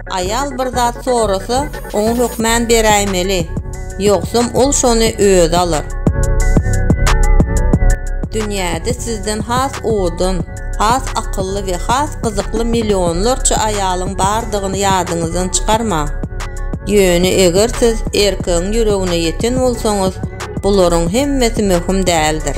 Aýal bir zat sorasa, oňa hökmän beräýmeli, ýogsam ol şony özi alar. Dünýäde sizden has owadan, has akylly we has gyzykly millionlarça aýalyň bardygyny ýadyňyzdan çykarmaň. Ýöne eger siz erkegiň ýüregine ýeten bolsaňyz, bularyň hemmesi möhüm däldir.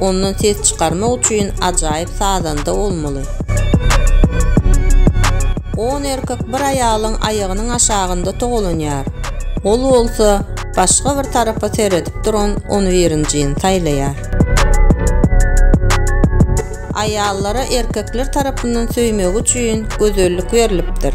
Ondan ses çykarmak üçin ajaýyp sazanda bolmaly. On erkek bir aýalyň aýagynyň aşagynda togalanýar. Ol bolsa başga bir tarapa seredip duran on birinjini saýlaýar. Aýallara erkekler tarapyndan söýmegi üçin gözellik berlipdir.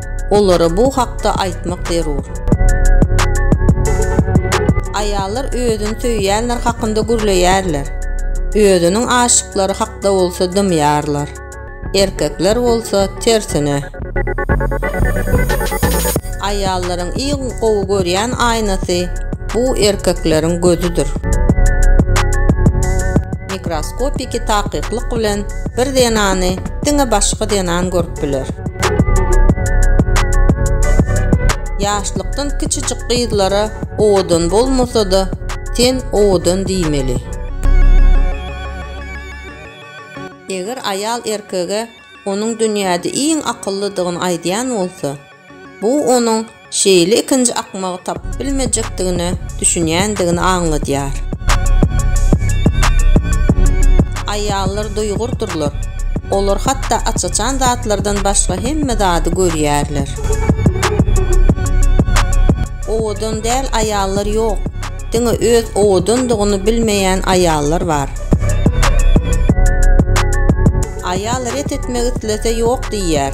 Olara bu hakda aýtmak zerur. Aýallar özüni söýýänler hakynda gürleýärler. Özüniň aşyklary hakda bolsa dymýarlar. Erkekler bolsa, tersine. Aýallaryň iň gowy görýän aýnasy, bu erkekleriň gözüdir. Mikroskopiki takyklyk bilen bir zenany diňe başga zenan görüp bolup biler. Ýaşlykdan kiçijik gyzlara owadan bolmasa-da, sen owadan diýmeli. Eger aýal erkege onuň dünýäde iň akyllydygyny aýdýan bolsa, Bu onuň şeýle ikinji akmagy tapyp bilmejekdigine düşünýändigini aňladýar. Aýallar duýgurdyrlar. Olar hatda aç-açan zatlardan başga hemme zady görýärler. Owadan däl aýallar ýok. Diňe öz owadandygyny bilmeýän aýallar bar. Aýal ret etmek islese ýok diýýär.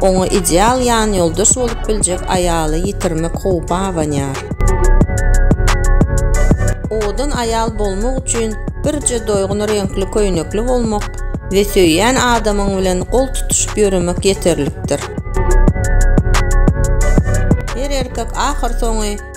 Oňa ideal ýanýoldaş bolup biljek aýaly ýitirmek howpy abanýar. Owadan aýal bolmak üçin birje doýgun reňkli köýnekli bolmak we söýýän adamyň bilen gol tutuşyp ýöremek ýeterlikdir. Her erkek ahyrsoňy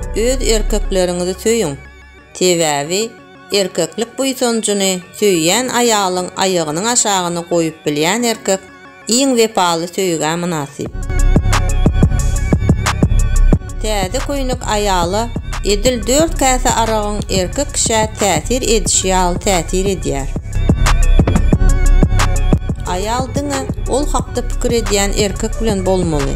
Öz erkekleriňizi söýüň, sebäbi erkeklik buýsanjyny söýýän aýalyň aýagynyň aşagyny goýup bilýän erkek iň wepaly söýgä mynasyp. Täze köýnek aýala edil dört käse aragyň erkek kişä täsir edişi ýaly täsir edýär. Aýal diňe ol hakda pikir edýän erkek bilen bolmaly.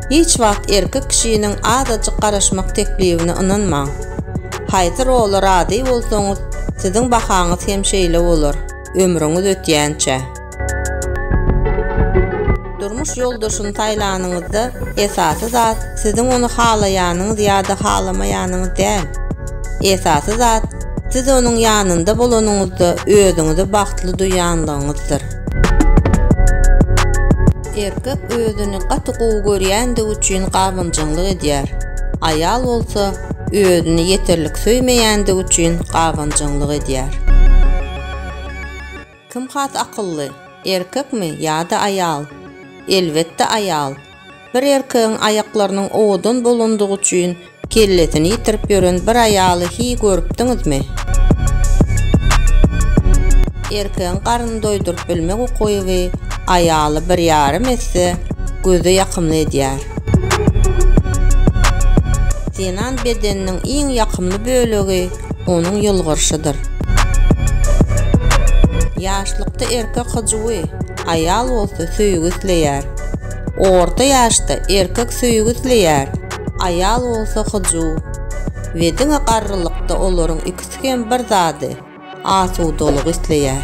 Hiç wagt erkek kişiniň azajyk garaşmak teklibine ynanmaň. Haýsy rola razy bolsaňyz, siziň bahaňyz hem şeýle bolar, ömrüňiz ötýänçä. Durmuş ýoldaşyny saýlanyňyzda esasy zat siziň ony halaýanyňyz ýa-da halamaýanyňyz däl. Esasy zat, siz onuň ýanynda bolanyňyzda özüňizi bagtly duýanlygyňyzdyr. Erkek özüni gaty gowy görýändigi üçin gabanjaňlyk edýär. Aýal bolsa özüni ýeterlik söýmeýändigi üçin gabanjaňlyk edýär. Kim has akylly, erkekmi ýa-da aýal? Elbetde aýal. Bir erkegiň aýaklarynyň owadan bolandygy üçin kellesini ýitirip ýören bir aýaly hiý görüpdiňizmi? Erkegiň garnyny doýduryp bilmek ukyby aýaly bir ýarym esse göze ýakymly edýär. Zenan bedeniniň iň ýakymly bölegi onuň ýylgyryşydyr. Ýaşlykda erkek hyjuwy. Aýal bolsa söýgi isleýär. Orta ýaşda erkek söýgi isleýär, aýal bolsa hyjuw. We diňe garrylykda olaryň ikisi hem bir zady, asudalygy isleýär.